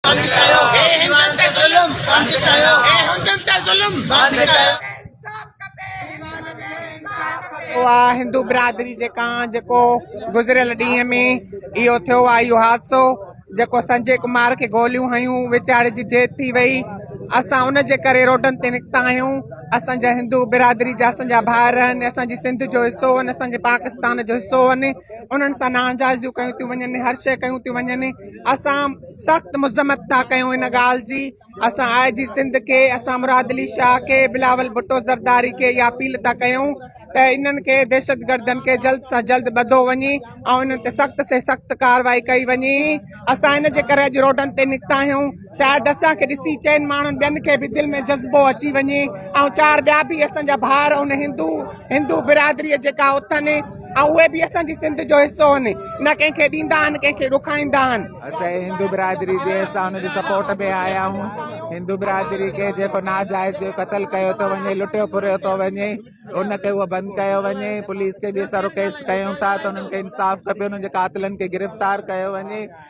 بند ڪيو هي هندن تي ظلم بند ڪيو هي هندن تي ظلم بند ڪيو اها هندو برادري جيڪا جيڪو گذريل ڏينهن ۾ اهو ٿيو آهي اهو حادثو جيڪو سنجي ڪمار کي گوليون هيون ويچاري جي ڊيٿ ٿي وئي اسان ان جي ڪري روڊن تي نڪتا آهيون اسانجا هندو برادري جا اسانجا ڀائر آهن اسانجي سنڌ جو حصو آهن اسانجي پاڪستان جو حصو آهن انهن سان ناانجازيون ڪيون ٿيون وڃن هر شيء ڪيون ٿيون وڃن اسان سخت مذمت ٿا ڪيون ان ڳالهه جي اسان آء جي سنڌ کي اسان مراد علي شاهه کي بلاول ڀٽو زرداري کي اها اپيل ٿا ڪيون ته انهن کي دهشتگردن کي جلد سان جلد ٻڌو وڃي ۽ انهن تي سخت سي سخت ڪارروائي ڪئي وڃي اسان ان جي ڪري اڄ روڊن تي نڪتا آهيون شايد اسان کي ڏسي چئن ماڻهن ٻين کي به دل ۾ جذبو اچي وڃي ۽ چار ٻيا به اسان جا ڀاء ان هندو هندو برادري جيڪا اٿن ۽ اهي به اسان جي سنڌ جو حصو آهن نه ڪنهن کي ڏيندا آهن ڪنهن کي ڏکائيندا آهن اسان هندو برادري جي اسان ان جي سپورٽ ۾ آيا آهيون هندو برادري کي جيڪو ناجائز جو قتل ڪيو ٿو وڃي لٽيو ڦريو ٿو وڃي ان کي هو بند ڪيو وڃي پوليس کي به اسان رڪويسٽ ڪيون ٿا ته انهن کي انصاف کپي انهن جي قاتلن کي گرفتار ڪيو وڃي